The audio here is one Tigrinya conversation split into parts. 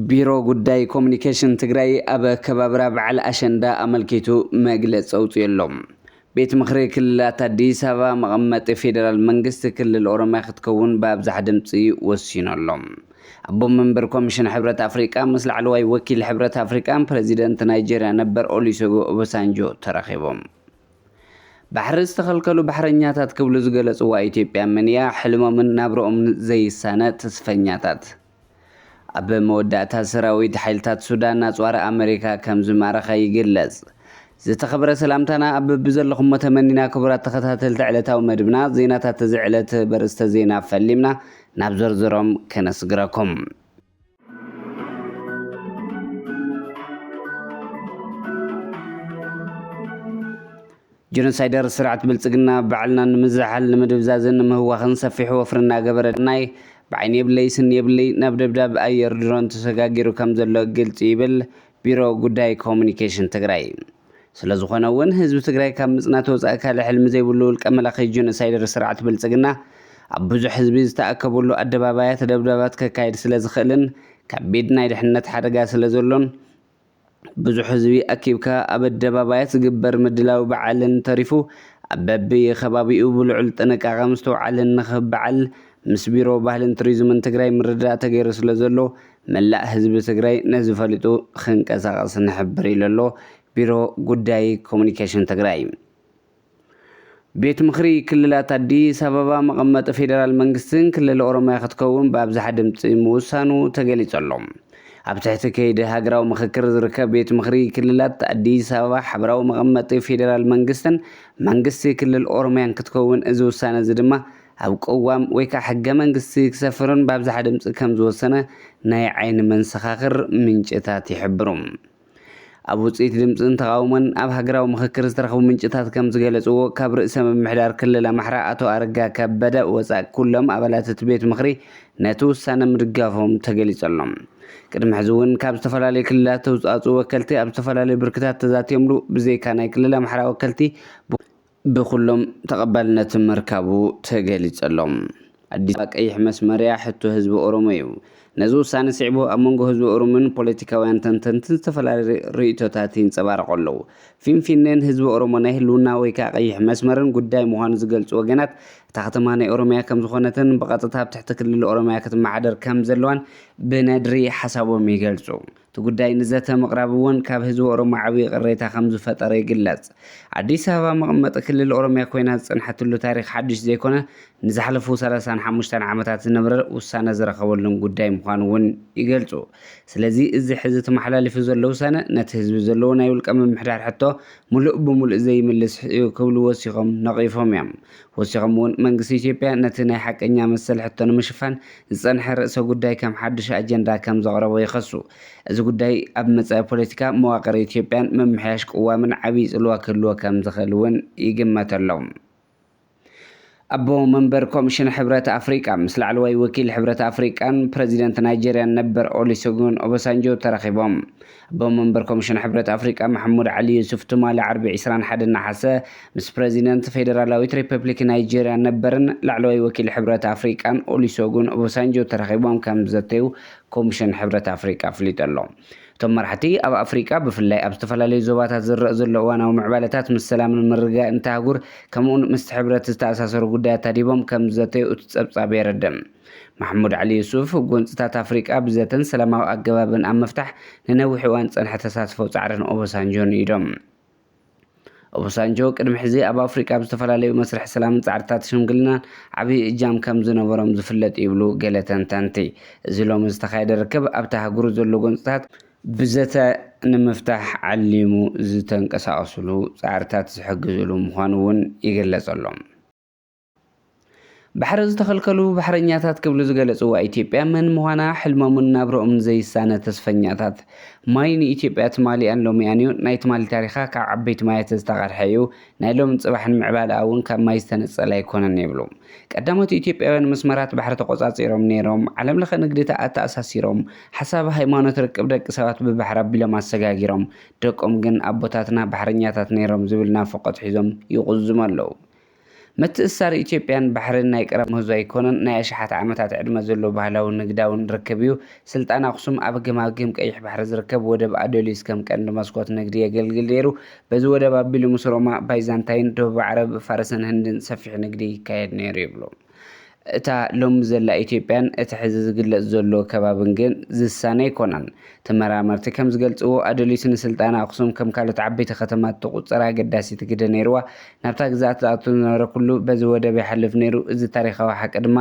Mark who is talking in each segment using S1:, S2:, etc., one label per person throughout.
S1: ቢሮ ጉዳይ ኮሙኒኬሽን ትግራይ ኣብ ኣከባብራ በዓል ኣሸንዳ ኣመልኪቱ መግለፂ ኣውፂኡ ኣሎ። ቤት ምኽሪ ክልላት ኣዲስ ኣበባ መቐመጢ ፌዴራል መንግስቲ ክልል ኦሮሚያ ክትከውን ብኣብዝሓ ድምፂ ወሲኑ ኣሎ። ኣቦ መንበር ኮሚሽን ሕብረት ኣፍሪቃ ምስ ላዕለዋይ ወኪል ሕብረት ኣፍሪቃን ፕረዚደንት ናይጀርያ ነበር ኦሊሰጎ ኦበሳንጆ ተራኺቦም። ባሕሪ ዝተኸልከሉ ባሕረኛታት ክብሉ ዝገለፅዋ ኢትዮጵያ መን እያ? ሕልሞምን ናብረኦምን ዘይሳነ ተስፈኛታት። ኣብ መወዳእታ ሰራዊት ሓይልታት ሱዳን ኣጽዋር ኣመሪካ ከም ዝማረኸ ይግለጽ። ዝተኸብረ ሰላምታና ኣብ በቢዘለኹሞ ተመኒና ክቡራት ተኸታተልቲ ዕለታዊ መድብና ዜናታት እዚ ዕለት በርስተ ዜና ፈሊምና ናብ ዝርዝሮም ከነስግረኩም። ጀኖሳይደር ስርዓት ብልፅግና ባዕልና ንምዝሓል፣ ንምድብዛዝን ንምህዋኽን ሰፊሕ ወፍሪ እናገበረ ናይ ብዓይኒ የብለይ ስኒ የብለይ ናብ ደብዳብ ኣየር ድሮን ተሰጋጊሩ ከምዘሎ ግልፂ ዩ ይብል ቢሮ ጉዳይ ኮሙኒኬሽን ትግራይ። ስለዝኾነ ውን ህዝቢ ትግራይ ካብ ምፅናት ወፃኢ ካልእ ሕልሚ ዘይብሉ ውልቀ መላኺ ጀኖሳይደር ስርዓት ብልፅግና ኣብ ብዙሕ ህዝቢ ዝተኣከበሉ ኣደባባያት ደብዳባት ከካይድ ስለዝኽእልን ከቢድ ናይ ድሕንነት ሓደጋ ስለዘሎን ብዙሕ ህዝቢ ኣኪብካ ኣብ ኣደባባያት ዝግበር ምድላው በዓልን ተሪፉ ኣብ በቢከባቢኡ ብልዑል ጥንቃቐ ምስትውዓልን ንክብ በዓል ምስ ቢሮ ባህልን ቱሪዝምን ትግራይ ምርድዳእ ተገይሩ ስለዘሎ መላእ ህዝቢ ትግራይ ነዚ ፈሊጡ ክንቀሳቐስ ንሕብር ኢሉ ኣሎ ቢሮ ጉዳይ ኮሙኒኬሽን ትግራይ። ቤት ምኽሪ ክልላት ኣዲስ ኣበባ መቐመጢ ፌዴራል መንግስትን ክልል ኦሮሚያ ክትከውን ብኣብዝሓ ድምፂ ምውሳኑ ተገሊፁ ኣሎ። ኣብ ትሕቲ ከይዲ ሃገራዊ ምኽክር ዝርከብ ቤት ምኽሪ ክልላት ኣዲስ ኣበባ ሓበራዊ መቐመጢ ፌዴራል መንግስትን መንግስቲ ክልል ኦሮሚያን ክትከውን እዚ ውሳነ እዚ ድማ ኣብ ቅዋም ወይ ከዓ ሕገ መንግስቲ ክሰፍርን ብኣብዝሓ ድምፂ ከም ዝወሰነ ናይ ዓይኒ መንሰኻኽር ምንጭታት ይሕብሩ። ኣብ ውፅኢት ድምፅን ተቓውሞን ኣብ ሃገራዊ ምኽክር ዝተረኽቡ ምንጭታት ከም ዝገለፅዎ ካብ ርእሰ ምምሕዳር ክልል ኣምሓራ ኣቶ ኣረጋ ከበደ ወፃእ ኩሎም ኣባላት እቲ ቤት ምኽሪ ነቲ ውሳነ ምድጋፎም ተገሊፁ ኣሎ። ቅድሚ ሕዚ እውን ካብ ዝተፈላለዩ ክልላት ዝተውፃእፅኡ ወከልቲ ኣብ ዝተፈላለዩ ብርክታት ተዛቲዮምሉ ብዘይካ ናይ ክልል ኣምሓራ ወከልቲ ብኹሎም ተቐባልነት ምርካቡ ተገሊጸሎ። ኣዲስ ኣበባ ቀይሕ መስመር'ያ፣ ሕቶ ህዝቢ ኦሮሞ'ዩ። ነዚ ውሳነ ስዒቡ ኣብ መንጎ ህዝቢ ኦሮሞን ፖለቲካውያን ተንተንትን ዝተፈላለዩ ርእይቶታት ይንጸባረቑ ኣለዉ። ፊንፊኔን ህዝቢ ኦሮሞ ናይ ህልውና ወይ ከኣ ቀይሕ መስመርን ጉዳይ ምዃኑ ዝገልጹ ወገናት፣ እታ ከተማ ናይ ኦሮሚያ ከምዝኾነትን ብቐጥታ ኣብ ትሕቲ ክልል ኦሮሚያ ክትመሓደር ከምዘለዋን ብነድሪ ሓሳቦም ይገልጹ። እቲ ጉዳይ ንዘተ ምቕራብ እውን ካብ ህዝቢ ኦሮሞ ዓብዪ ቅሬታ ከምዝፈጠረ ይግለፅ። ኣዲስ ኣበባ መቐመጢ ክልል ኦሮሚያ ኮይና ዝፀንሐትሉ ታሪኽ ሓዱሽ ዘይኮነ ንዝሓለፉ ሰላሳን ሓሙሽተን ዓመታት ዝነበረ ውሳነ ዝረኸበሉን ጉዳይ ምዃኑ እውን ይገልፁ። ስለዚ እዚ ሕዚ ተመሓላሊፉ ዘሎ ውሳነ ነቲ ህዝቢ ዘለዎ ናይ ውልቀ ምምሕዳር ሕቶ ሙሉእ ብሙሉእ ዘይምልስ እዩ ክብሉ ወሲኾም ነቒፎም እዮም። ወሲኾም እውን መንግስቲ ኢትዮጵያ ነቲ ናይ ሓቀኛ መሰል ሕቶ ንምሽፋን ዝፀንሐ ርእሰ ጉዳይ ከም ሓዱሽ ኣጀንዳ ከም ዘቕረቦ ይኸሱ። እዚ ጉዳይ ኣብ መፃኢ ፖለቲካ መዋቕር ኢትዮጵያን ምምሕያሽ ቅዋምን ዓብዪ ፅልዋ ክህልዎ ከም ዝኽእል እውን ይግመተሎም። ኣቦ መንበር ኮሚሽን ሕብረት ኣፍሪቃ ምስ ላዕለዋይ ወኪል ሕብረት ኣፍሪቃን ፕረዚደንት ናይጀርያን ነበር ኦሊሰጉን ኦበሳንጆ ተራኺቦም ኣቦ መንበር ኮሚሽን ሕብረት ኣፍሪቃ መሕሙድ ዓሊ ዩሱፍ ትማሊ ዓርቢ ዕስራን ሓደን ነሓሰ ምስ ፕረዚደንት ፌደራላዊት ሪፐብሊክ ናይጀርያን ነበርን ላዕለዋይ ወኪል ሕብረት ኣፍሪቃን ኦሊሶጉን ኦቦሳንጆ ተራኺቦም ከም ዘተዩ ኮሚሽን ሕብረት ኣፍሪቃ ኣፍሊጡ ኣሎ። እቶም መራሕቲ ኣብ ኣፍሪቃ ብፍላይ ኣብ ዝተፈላለዩ ዞባታት ዝረእ ዘሎ እዋናዊ ምዕባለታት ምስ ሰላምን ምርግጋእን እታ ኣህጉር ከምኡ'ውን ምስቲ ሕብረት ዝተኣሳሰሩ ጉዳያት ኣድሂቦም ከም ዘተዩ እቲ ጸብጻብ የረድእ። ማሕሙድ ዓሊ ዩሱፍ፣ ጎንጽታት ኣፍሪቃ ብዘተን ሰላማዊ ኣገባብን ኣብ ምፍታሕ ንነዊሕ እዋን ዝጸንሐ ተሳትፎ ጻዕርን ኦቦሳንጆን እዩ ኢሎም። ኦቦሳንጆ ቅድሚ ሕዚ ኣብ ኣፍሪቃ ኣብ ዝተፈላለዩ መስርሕ ሰላምን ጻዕርታት ሽምግልናን ዓብዪ እጃም ከም ዝነበሮም ዝፍለጥ እዩ ይብሉ ገለ ተንተንቲ። እዚ ሎሚ ዝተኻየደ ርክብ ኣብታ ኣህጉር ዘሎ ጎንጽታት ብዘተ ንምፍታሕ ዓሊሙ ዝተንቀሳቐስሉ ጻዕርታት ዝሕግዝሉ ምዃኑ እውን ይግለጸሎም። ባሕሪ ዝተኸልከሉ ባሕረኛታት ክብሉ ዝገለፅዋ ኢትዮጵያ መን ምዃና ሕልሞምን ናብረኦምን ዘይሳነ ተስፈኛታት። ማይ ንኢትዮጵያ ትማሊኣን ሎሚኣን ዩ፣ ናይ ትማሊ ታሪኻ ካብ ዓበይቲ ማያት ዝተቐድሐ ዩ፣ ናይ ሎምን ፅባሕን ምዕባለኣ ውን ካብ ማይ ዝተነፀለ ኣይኮነን ይብሉ ቀዳሞት ኢትዮጵያውያን መስመራት ባሕሪ ተቖፃፂሮም ነይሮም፣ ዓለም ለኸ ንግዲ ኣተኣሳሲሮም፣ ሓሳብ ሃይማኖት ርክብ ደቂ ሰባት ብባሕሪ ኣቢሎም ኣሰጋጊሮም፣ ደቆም ግን ኣቦታትና ባሕረኛታት ነይሮም ዝብል ናፍቖት ሒዞም ይቑዝሙ ኣለዉ። ምትእስሳር ኢትዮጵያን ባሕሪን ናይ ቀረብ ምህዞ ኣይኮነን፣ ናይ ኣሽሓት ዓመታት ዕድመ ዘለዎ ባህላውን ንግዳውን ርክብ እዩ። ስልጣን ኣኽሱም ኣብ ገማግም ቀይሕ ባሕሪ ዝርከብ ወደብ ኣዶሊስ ከም ቀንዲ መስኮት ንግዲ የገልግል ነይሩ። በዚ ወደብ ኣቢሉ ምስ ሮማ፣ ባይዛንታይን፣ ደቡብ ዓረብ፣ ፋርስን ህንድን ሰፊሕ ንግዲ ይካየድ ነይሩ ይብሉ። እታ ሎሚ ዘላ ኢትዮጵያን እቲ ሕዚ ዝግለጽ ዘሎ ከባብን ግን ዝሳነ ኣይኮናን። ተመራመርቲ ከም ዝገልጽዎ፣ ኣደሊት ንስልጣነ ኣኽሱም ከም ካልኦት ዓበይቲ ከተማታት ትቑጽር ኣገዳሲት ግደ ነይርዋ። ናብታ ግዝኣት ዝኣቱ ዝነበረ ኩሉ በዚ ወደብ ይሓልፍ ነይሩ። እዚ ታሪኻዊ ሓቂ ድማ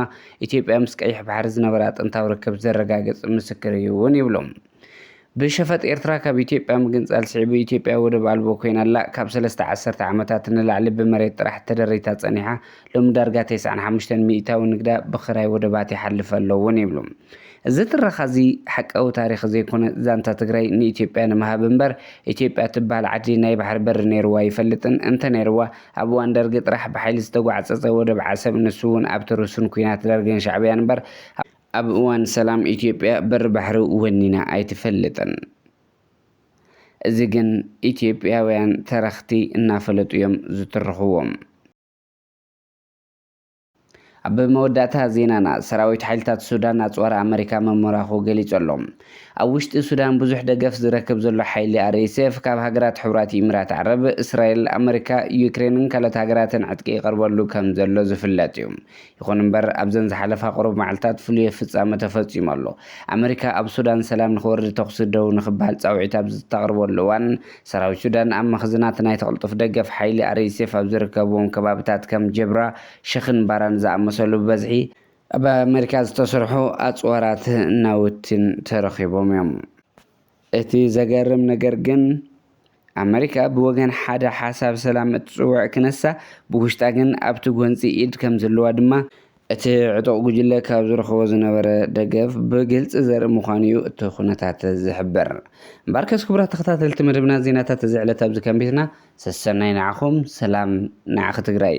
S1: ኢትዮጵያ ምስ ቀይሕ ባሕሪ ዝነበራ ጥንታዊ ርክብ ዘረጋግጽ ምስክር እዩ'ውን ይብሉ። ብሸፈጥ ኤርትራ ካብ ኢትዮጵያ ምግንጻል ስዒቡ ኢትዮጵያ ወደብ ኣልቦ ኮይና ኣላ። ካብ ሰለስተ ዓሰርተ ዓመታት ንላዕሊ ብመሬት ጥራሕ ተደሪታ ጸኒሓ ሎሚ ዳርጋ ተስዓን ሓሙሽተን ሚእታዊ ንግዳ ብክራይ ወደባት ይሓልፍ ኣሎ እውን ይብሉ። እዚ ትረኻ እዚ ሓቃዊ ታሪኽ ዘይኮነ ዛንታ ትግራይ ንኢትዮጵያ ንምሃብ እምበር ኢትዮጵያ እትበሃል ዓዲ ናይ ባሕሪ በሪ ነይርዋ ኣይፈልጥን። እንተነይርዋ ኣብ እዋን ደርጊ ጥራሕ ብሓይሊ ዝተጓዕጸጸ ወደብ ዓሰብ ንሱ እውን ኣብቲ ርሱን ኲናት ደርግን ሻዕብያን እምበር ኣብ እዋን ሰላም ኢትዮጵያ በሪ ባሕሪ ወኒና ኣይትፈልጥን። እዚ ግን ኢትዮጵያውያን ተረኽቲ እናፈለጡ እዮም ዝትርኽዎ። ኣብ መወዳእታ ዜናና፣ ሰራዊት ሓይልታት ሱዳን ኣጽዋር ኣመሪካ ምምራኹ ገሊጹ ኣሎ። ኣብ ውሽጢ ሱዳን ብዙሕ ደገፍ ዝረክብ ዘሎ ሓይሊ RSF ካብ ሃገራት ሕቡራት ኢሚራት ዓረብ፣ እስራኤል፣ ኣመሪካ፣ ዩክሬንን ካልኦት ሃገራትን ዕጥቂ ይቐርበሉ ከምዘሎ ዝፍለጥ'ዩ። ይኹን እምበር ኣብዘን ዝሓለፋ ቁሩብ መዓልታት ፍሉየ ፍጻመ ተፈጺሙ ኣሎ። ኣመሪካ ኣብ ሱዳን ሰላም ንኽወርድ ተኹሲ ደው ንኽበሃል ጻውዒት ኣብ ዝተቕርበሉ እዋን፣ ሰራዊት ሱዳን ኣብ መኽዝናት ናይቲ ቅልጡፍ ደገፍ ሓይሊ RSF ኣብ ዝርከብዎም ከባቢታት ከም ጀብራ፣ ሸኽን ባራን ዝኣመሰሉ ብበዝሒ፣ ብ ኣመሪካ ዝተሰርሑ ኣጽዋራት ናውቲን ተረኺቦም እዮም። እቲ ዘገርም ነገር ግን፣ ኣመሪካ ብወገን ሓደ ሓሳብ ሰላም እትጽውዕ ክነሳ፣ ብውሽጣ ግን ኣብቲ ጎንጺ ኢድ ከም ዘለዋ ድማ፣ እቲ ዕጡቕ ጉጅለ ካብ ዝረኽቦ ዝነበረ ደገፍ ብግልጺ ዘርኢ ምዃኑ'ዩ እቲ ኩነታት ዝሕብር። እምበኣርከስ ክቡራት ተኸታተልቲ መደብና ዜናታት እዚ ዕለት ኣብዚ ከም ቤትና፣ ሰሰናዩ ንዓኹም፣ ሰላም ንዓኺ ትግራይ!